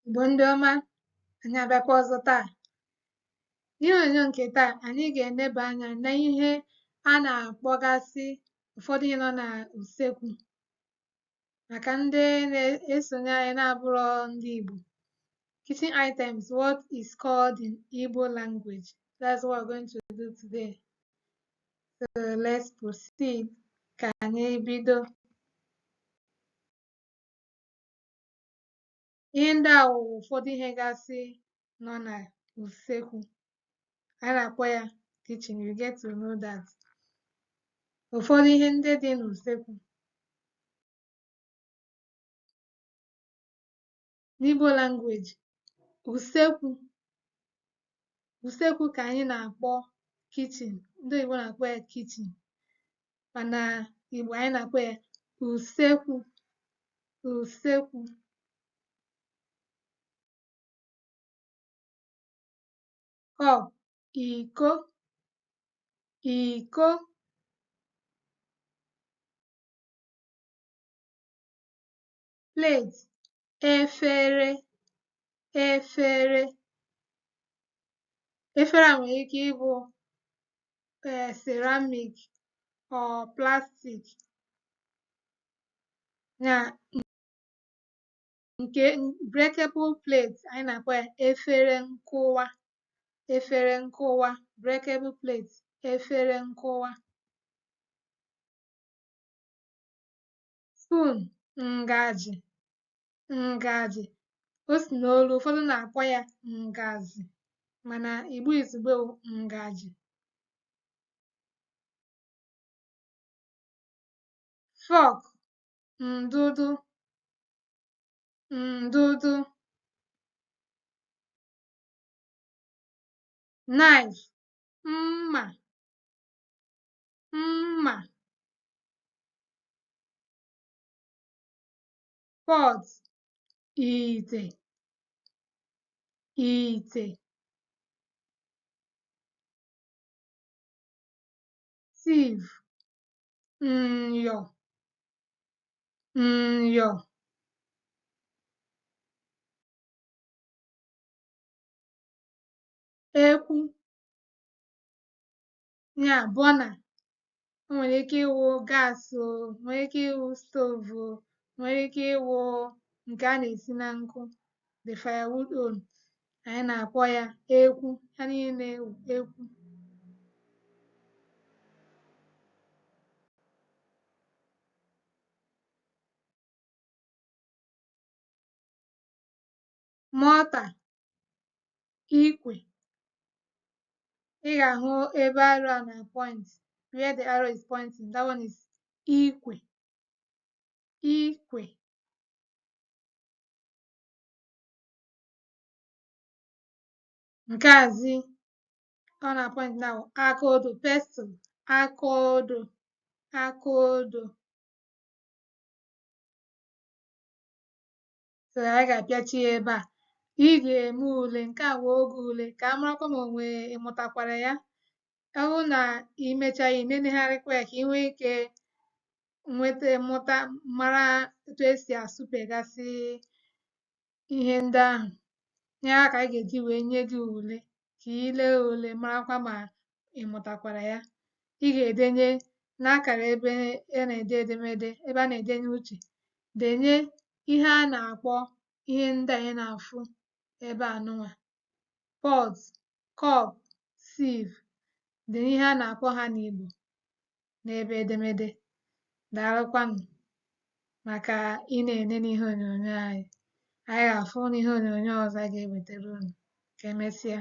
Igbo ndị ọma anyị abịakwa ọzọ taa n'ihe onyonyo nke taa anyị ga-eneba anya na ihe a na-akpọgasị ụfọdụ ihe nọ na usekwu maka ndị na-esonye anyị na-abụrọ ndị Igbo kitchen items what is called in Igbo language that's what we're going to do today so let's proceed ka anyị bido ihe ndị a wụ ụfọdụ ihe gasị nọ na usekwu a na-akpọ ya kitchen you get to know that ụfọdụ ihe ndị dị n'usekwu n'Igbo language usekwu usekwu ka anyị na-akpọ kitchen ndị oyibo na-akpọ ya kitchen mana Igbo anyị na-akpọ ya usekwu usekwu cup iko iko plate efere efere efere a nwere ike ịbụ eh, ceramic or plastic na nke breakable plate anyị na-akpọ ya efere nkụwa efere nkụwa breakable plate efere nkụwa spoon ngaji ngaji o si n'olu ụfọdụ na-akpọ ya ngazi mana Igbo izugbe wụ ngaji fork ndụdụ ndụdụ knife mma mma pot ite ite sieve nyo nyo ekwu ya burner o nwere ike ịwụ gas o nwere ike ịwụ stove o nwere ike ịwụ nke a na-esi na nkụ the firewood own anyị na-akpọ ya ekwu ha niile na-awụ ekwu mortar, ikwe. Ị ga-ahụ ebe arrow a na-point where the arrow is pointing that one is ikwe ikwe nke a zi ọ na-point now aka odo pestle aka odo aka odo so anyị ga-apịachi ya ebe a ị ga-eme ule nke a wee oge ule ka a marakwa ma onwe ị mụtakwara ya ọ bụrụ na i mechaghị i nenegharịkwa ya ka i nwee ike nweta mụta mara etu esi asụpegasị ihe ndị ahụ ihe a ka anyị ga-eji wee nye gị ule ka i lee ule marakwa ma ị mụtakwara ya. Ị ga-edenye n'akara ebe a na-ede edemede ebe a na-edenye uche denye ihe a na-akpọ ihe ndị anyị na-afụ ebe a nụnwa pot, cup, sieve denye ihe a na-akpọ ha n'Igbo. n'ebe edemede. Daalụkwanụ maka ị na-ene n'ihe onyonyo anyị. Anyị ga-afụ n'ihe onyonyo ọzọ a ga-ewetara unu. Ka emesịa.